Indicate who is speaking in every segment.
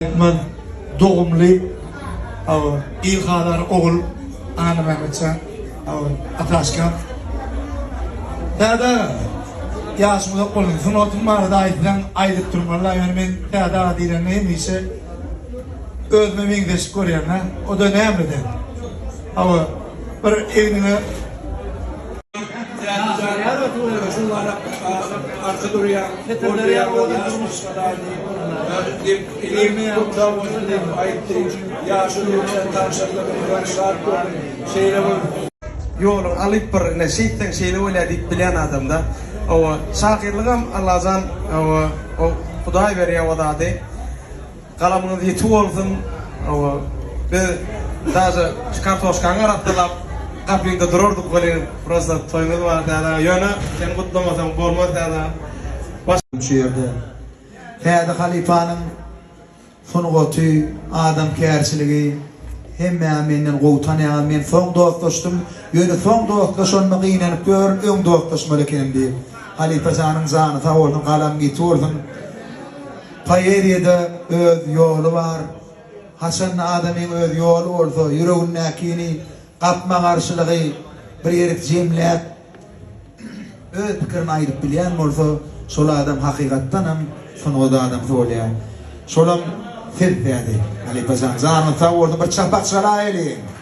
Speaker 1: Türkmen dogumly aw il halar ogul Aly Mämmetjan aw Ataşka Täze ýaşy uzak bolsun. Sungatyň barada aýtsaň aýdyp durmaly. Ýöne men täze aga diýlende hemişe özüme meňzeşlik görýän. O da nämeden? Aw bir egniňe
Speaker 2: Ýoluň
Speaker 3: alyp bir ine şeýtseň şeýle bolýar diýip bilýän adamda oba şahyrlygam Allajan oba o Hudaý berýär o zady. Galamyňyz ýiti bolsun biz daže kartoşkaňy arassalap gapyňda durardyk welin prosta toýuňyz bar täzä ýöne sen gutlamasaň bolmaz täzä baş. Şu
Speaker 1: ýerde Täze halypanyň sungaty, adamkärçiligi hemmäňi menden gowy tanýaňyz. Men soň dostlaşdym. Ýöne soň dostlaşanyma gynanyp ýörün, öň dostlaşmaly ekenim diýip. Halypa janyň jany sag bolsun, galaň ýiti bolsun. Poeziýada öz ýoly bar. Haçanda adamyň öz ýoly bolsa, ýüregindäkini, gapma-garşylygy bir ýerik jemläp, öz pikirini aýdyp bilýän bolsa, şol adam hakykatdan hem sungat adamsy bolýar. Şolam siz täze, halypa jan. Janyňyz sag bolsun, bir çapak çalaýalyň!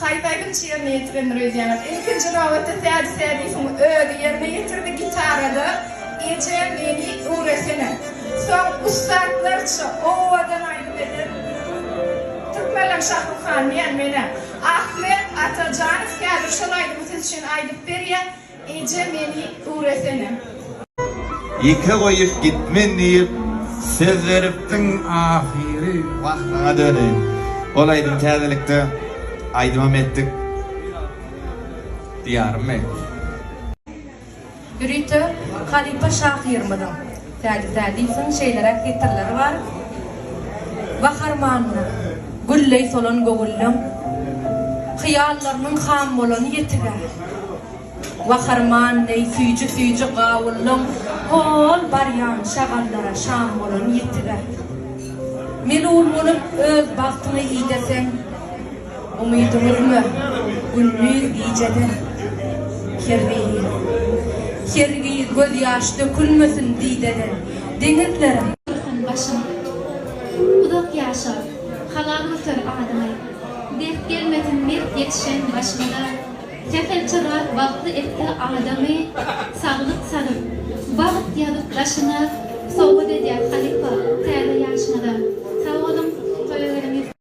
Speaker 4: Haýdaýlyň çyýryny ýetirendir öýdýäňiz. Ilkinji nobatda Sädi Sädiýewiň özi ýerine ýetirdi gitarada Eje meni öwresene. Soň ussatlarça owadan aýdym eden türkmenleň Şahruk Hanyny ýa-ni men-ä Ahmet Atajanow häzir şol aýdymy siz üçin aýdyp berýär. Eje meni öwresene.
Speaker 5: Ýeke goýup gitmen diýip söz beripdiň ahyry wah saňa döneýin ol aýdym täzelikde aýdymam etdik diýarym men. Ýörite halypa
Speaker 6: şahyrymyzyň. Sädi Sädiýewiň şeýleräk setirleri bar, Bahar manyna gülleý solan göwünleň, Hyýallarynyň ham bolany ýetig-ä. Wahar man neý süýji-süýji gawullaň, Hol barýan şagallara şam bolany ýetig-ä. Melul bolup öz bagtyňy ideseň. Umydyňyzmy gündiz gijede kergiýi. Kergiýi göz ýaş dökülmesin didede deňizlere. Dursun başyň
Speaker 7: uzak ýaşa halal göter adyňy Dert gelmesin mert ýetişen başyňda Sähelçe Rab bagtly etse adamy Saglyk salyp bagt ýazyp daşyňa Sowgat edýäs halypa täze ýaşyňyza Sag boluň toýa gelen.